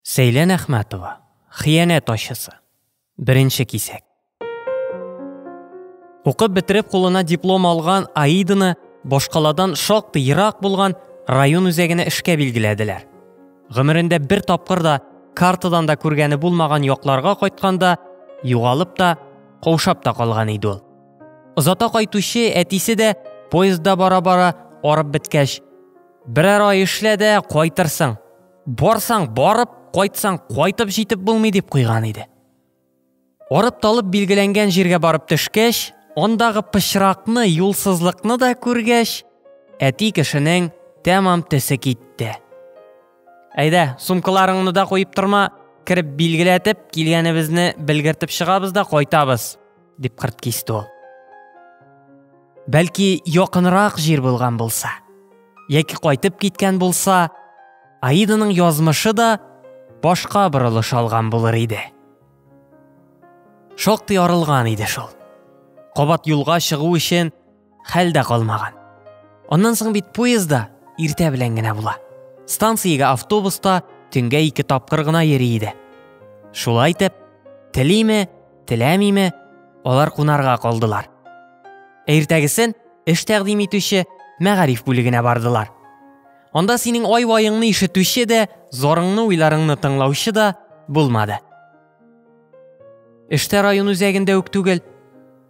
Сәйлән Әхмәтова, Хыянәт ачысы. Беренче кисәк. Укып бетереп кулына диплом алган Аиданы башкаладан шактый ерак булган район үзәгенә эшкә билгеләделәр. Гомерендә бер тапкыр да картадан да күргәне булмаган якларга кайтканда югалып та, каушап та калган иде ул. Озата кайтучы әтисе дә поездда бара-бара арып беткәч, берәр ай эшлә дә кайтырсың, барсаң барып кайтсаң кайтып җитеп булмый дип куйган иде орып талып билгеләнгән җиргә барып төшкәч андагы пычракны юлсызлыкны да күргәч әти кешенең тәмам төсе китте әйдә сумкаларыңны да куеп торма кереп билгеләтеп килгәнебезне белгертеп чыгабыз да кайтабыз Дип кырт кисте ул. Бәлки якынрак җир булган булса, яки кайтып киткән булса, Аиданың язмышы да башка борылыш алган булыр иде. Шактый арылган иде шул. Кабат юлга чыгу өчен Хәл дә калмаган. Аннан соң бит поездда иртә белән генә була. Станциягә автобуста төнгә ике тапкыр гына йөри иде. Шулай итеп, телиме, теләмиме, алар кунарга калдылар. Иртәгесен эш тәкъдим итүче мәгариф бүлегенә бардылар. Анда синең ай-ваеңны ишетүче дә, зарыңны, уйларыңны тыңлаучы да булмады. Эштә район үзәгендә үк түгел,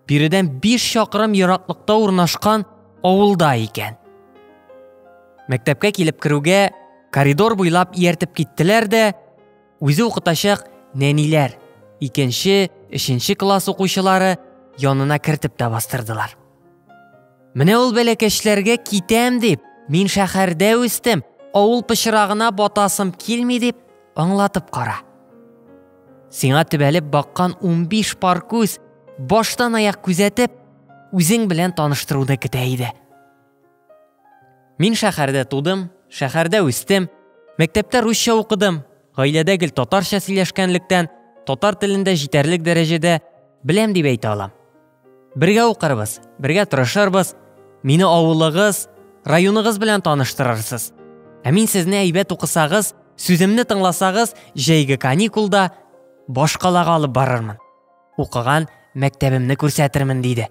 биредән биш чакрым ераклыкта урнашкан авылда икән. Мәктәпкә килеп керүгә коридор буйлап ияртеп киттеләр дә, үзе укытачак нәниләр, икенче, өченче класс укучылары янына кертеп тә бастырдылар. Менә ул бәләкәчләргә китәм дип, мин шәһәрдә үстем, авыл пычрагына батасым килми дип аңлатып кара. Сиңа төбәлеп баккан 15 пар күз баштан аяк күзәтеп, үзең белән таныштыруды көтә иде. Мин шәһәрдә тудым, шәһәрдә үстем, мәктәптә русча укыдым, гаиләдә гел татарча сөйләшкәнлектән, татар телендә җитәрлек дәрәҗәдә беләм дип әйтә алам. Бергә укырбыз, бергә тырышырбыз, мине авылыгыз, районыгыз белән таныштырырсыз. Ә мин сезне әйбәт укысагыз, сүземне тыңласагыз, җәйге каникулда башкалага алып барырмын. Укыган мәктәбемне күрсәтермен, диде.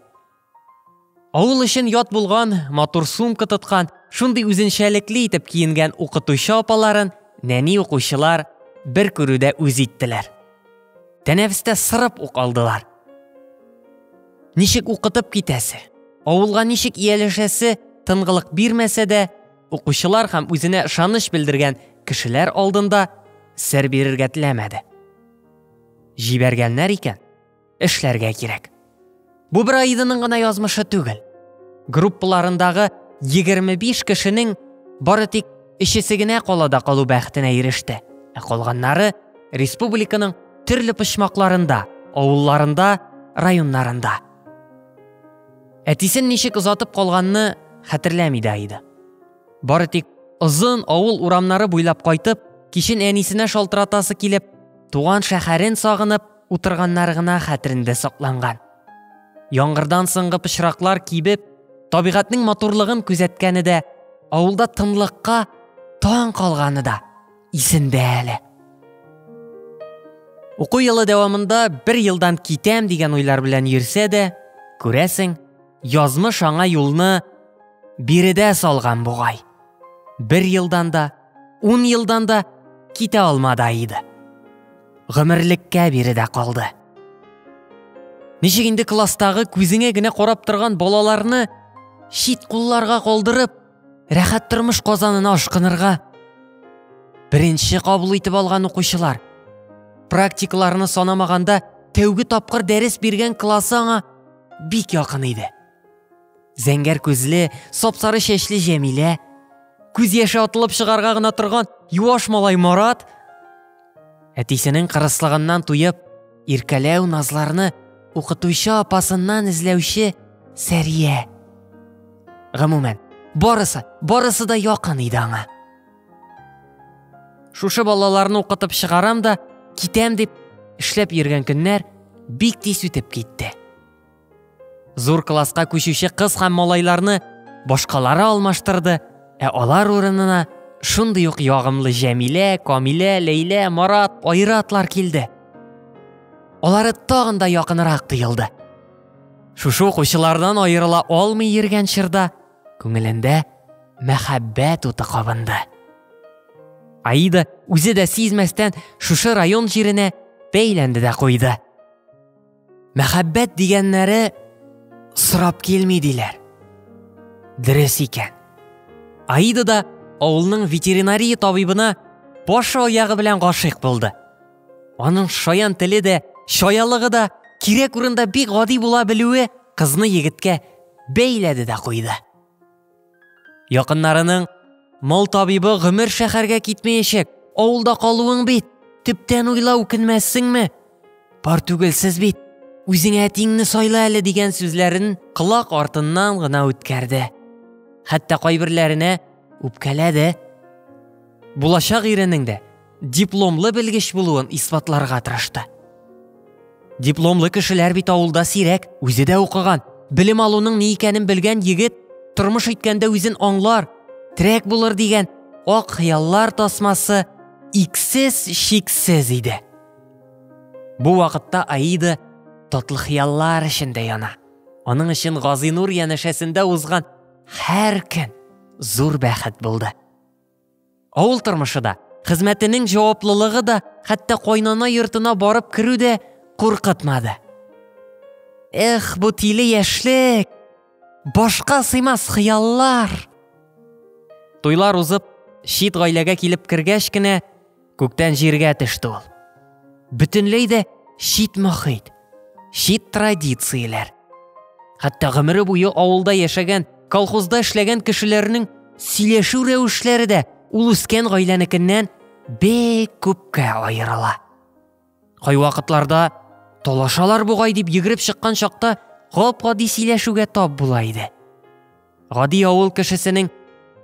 Авыл өчен ят булган, матур сумка тоткан, шундый үзенчәлекле итеп киенгән укытучы апаларын нәни укучылар бер күрүдә үз иттеләр. Тәнәфестә сырып ук алдылар. Ничек укытып китәсе? Авылга ничек ияләшәсе тынгылык бирмәсә дә, укучылар һәм үзенә ышаныч белдергән кешеләр алдында сер бирергә теләмәде. Җибәргәннәр икән. эшләргә кирәк. Бу бер Аиданың гына язмышы түгел. Группаларындагы 25 кешенең бары тик өчесе генә калада калу бәхетенә иреште. Ә калганнары республиканың төрле почмакларында, авылларында, районнарында. Әтисен ничек озатып калганны хәтерләми дә иде. Бары тик озын авыл урамнары буйлап кайтып, кичен әнисенә шалтыратасы килеп, туган шәһәрен сагынып, утырганнары гына хәтерендә сакланган. Яңгырдан соңгы пычраклар кибеп, табигатьнең матурлыгын күзәткәне дә, авылда тынлыкка таң калганы да исендә әле. Уку елы дәвамында бер елдан китәм дигән уйлар белән йөрсә дә, күрәсең, язмыш аңа юлны биредә салган бугай. Бер елдан да, Ун елдан да китә алмады Аида. Гомерлеккә биредә калды. Ничек инде класстагы күзеңә генә карап торган балаларны чит кулларга калдырып, рәхәт тормыш казанына ашкынырга? Беренче кабул итеп алган укучылар практикаларны санамаганда тәүге тапкыр дәрес биргән классы аңа бик якын иде. Зәңгәр күзле, сапсары чәчле Җәмилә, күз яше атылып чыгарга гына торган юаш малай Марат, әтисенең кырыслыгыннан туеп, иркәләү назларны укытучы апасыннан эзләүче Сәрия. Гомумән, барысы, барысы да якын иде аңа. Шушы балаларны укытып чыгарам да, китәм дип, эшләп йөргән көннәр бик тиз үтеп китте. Зур класска күчүче кыз һәм малайларны башкалары алмаштырды, ә алар урынына шундый ук ягымлы Җәмилә, Камилә, Ләйлә, Марат, Айратлар килде. Алары тагын да якынрак тоелды. Шушы укучылардан аерыла алмый йөргән чорда күңелендә мәхәббәт уты кабынды. Аида үзе дә сизмәстән шушы район җиренә бәйләнде дә куйды. мәхәббәт дигәннәре сорап килми диләр дөрес икән аида да авылның ветеринария табибына баш аягы белән гашыйк булды аның шаян теле дә шаялыгы да кирәк урында бик гади була белүе кызны егеткә бәйләде дә куйды Якыннарының Мол табибы гомер шәһәргә китмәячәк, авылда калуың бит. Төптән уйла үкенмәссеңме? Пар түгелсез бит. Үзеңә тиңне сайла әле дигән сүзләрен колак артыннан гына үткәрде. Хәтта кайберләренә үпкәләде. Булачак иренең дә дипломлы белгеч булуын исбатларга тырышты. Дипломлы кешеләр бит авылда сирәк, үзе дә укыган, белем алуның ни икәнен белгән егет тормыш иткәндә үзен аңлар, трәк булыр дигән ак хыяллар тасмасы иксез шиксез иде. Бу вакытта Аида татлы хыяллар эчендә яна. Аның өчен Газинур янәшәсендә узган һәр көн зур бәхет булды. Авыл тормышы да, хезмәтенең җаваплылыгы да, хәтта кайнана йортына барып керү дә куркытмады. Эх, бу тиле яшьлек! Башка сыймас хыяллар! Туйлар узып, чит гаиләгә килеп кергәч кенә, Күктән җиргә төште ул. Бөтенләй дә чит мохит, чит традицияләр. Хәтта гомере буе авылда яшәгән, колхозда эшләгән кешеләрнең сөйләшү рәвешләре дә ул үскән гаиләнекеннән бик күпкә аерыла. Кайвакытларда талашалар бугай дип йөгереп чыккан чакта гап-гади сөйләшүгә тап була иде. Гади авыл кешесенең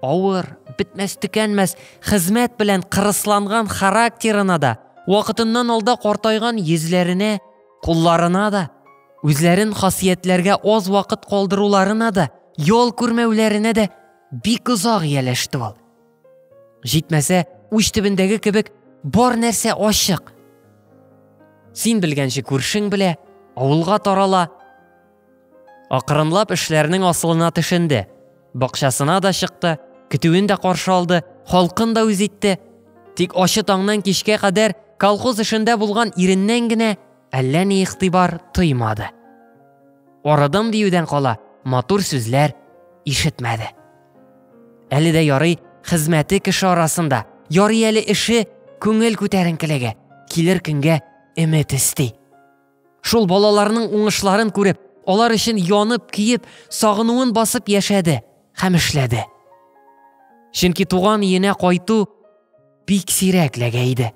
авыр, бетмәс төкәнмәс хезмәт белән кырысланган характерына да, вакытыннан алда картайган йөзләренә, кулларына да, үзләрен хасиятләргә аз вакыт калдыруларына да, ял күрмәүләренә дә бик озак ияләште ул. Җитмәсә, уч төбендәге кебек бар нәрсә ачык. Син белгәнче күршең белә, авылга тарала. Акрынлап эшләрнең асылына төшенде. Бакчасына да чыкты, көтүен дә каршы алды, халкын да үз итте. Тик ачы таңнан кичкә кадәр колхоз эшендә булган иреннән генә әллә ни игътибар тоймады. Арыдым диюдән кала матур сүзләр ишетмәде. Әле дә ярый хезмәте кеше арасында, ярый әле эше күңел күтәренкелеге, килер көнгә өмет өсти. Шул балаларның уңышларын күреп, алар өчен янып, киеп, сагынуын басып яшәде һәм эшләде. Чөнки туган иенә кайту бик сирәк ләгә иде.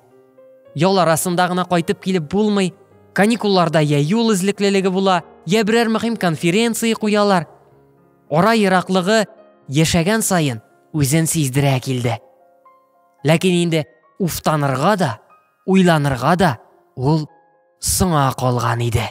Ял арасында гына кайтып килеп булмый, каникулларда я юл эзлеклелеге була, я берәр мөһим конференция куялар. Ара ераклыгы яшәгән саен үзен сиздерә килде. Ләкин инде уфтанырга да, уйланырга да ул соңа калган иде.